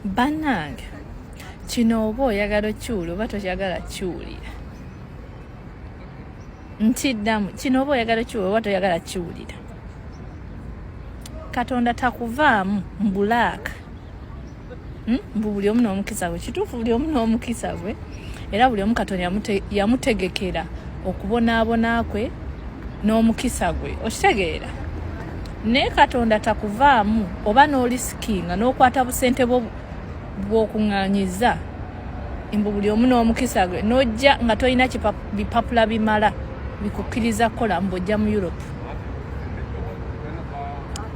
banange kino oba oyagala okiwulira oba tokyagala kiwulira ntiddamu kino oba oyagala okiwulira oba toyagala kiwulira katonda takuvaamu mbulaaka hmm? mbu buli omu n'omukisa gwe kituufu buli omu n'omukisa gwe era buli omu katonda yamutegekera okubonaabona kwe n'omukisa gwe okitegeera naye katonda takuvaamu oba n'olisikinga n'okwata busente bwo bw'okuŋŋanyiza mbu buli omu n'omukisa gwe n'ojja nga tolina bipapula bimala bikukkiriza kukola mbu ojja mu europe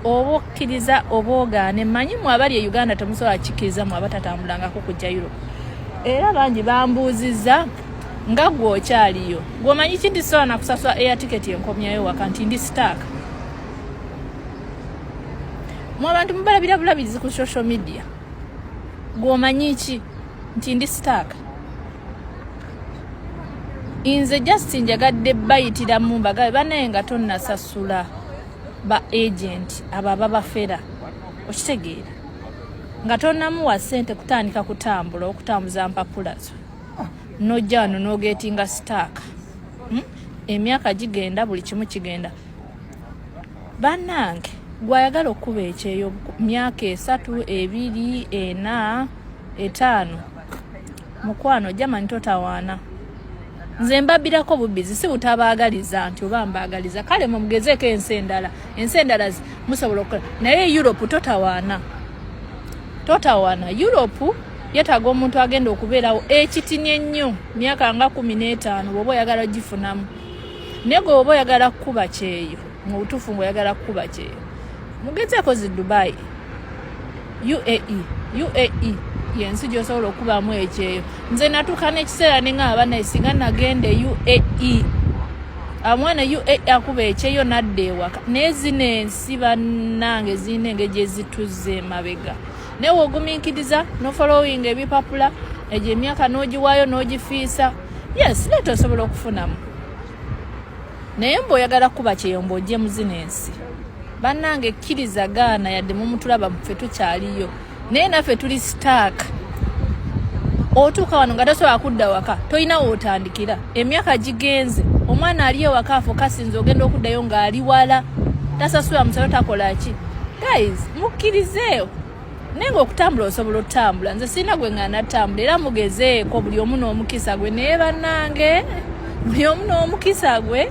oba okkiriza oba ogaane manyi mu abali e uganda temusobola kikkiriza mu abatatambulangako kujja europe era bangi bambuuzizza nga gwe okyaliyo gwomanyi ki nti sola nakusasula air ticket enkomyayo waka nti ndi sitaaka mu abantu mubalabira bulabirizi ku social media gwomanyi ki nti ndi sitaaka inze just njagadde bayitiramu mbagabe banaye nga tonnasasula ba agenti abo ababafera okitegeera nga tonamuwa sente kutandika kutambula okutambuza mpapula zo nojja wano nogetinga sitaaka hmm? emyaka gigenda buli kimu kigenda banange gwayagala okukuba ekyeyo myaka esatu ebiri ena etaano mukwano jamani totawaana nze mbabirako bubbizi si butabaagaliza nti oba mbaagaliza kale mumugezeeko ensi endala ensi endala musobola okukola naye europe totawaana totawaana europe yetaaga omuntu agenda okubeerawo ekitini ennyo myaka nga kumi n'etaano bwoba oyagala gifunamu naye gwe oba oyagala kukuba kyeyo mu butuufu ngaoyagala kukuba kyeyo mugezeeko zi dubai uae uae yensi gyosobola okubamu ekyeyo nze natuuka nekiseera nengamba banaye singa nagenda e uae amwana uae akuba ekyeyo nadda ewaka naye zino ensi bannange zirina engeri gyezituzza emabega naye wogumiikiriza nofolowinga ebipapula egyo emyaka nogiwaayo nogifiisa yes leeta osobola okufunamu naye mbu oyagala kuba kyeyomba ojje muzina ensi bannange ekkiriza gaana yadde mumutulaba mufe tukyaliyo naye naffe tuli sitaaka otuuka wano nga tasobola kudda waka tolina wootandikira emyaka gigenze omwana ali ewaka afo kasinza ogenda okuddayo ng'ali wala tasasula musalo takola ki guys mukkirizeewo naye nga okutambula osobola otambula nze sirina gwe nga natambula era mugezeeko buli omu n'omukisa gwe naye bannange buli omu n'omukisa gwe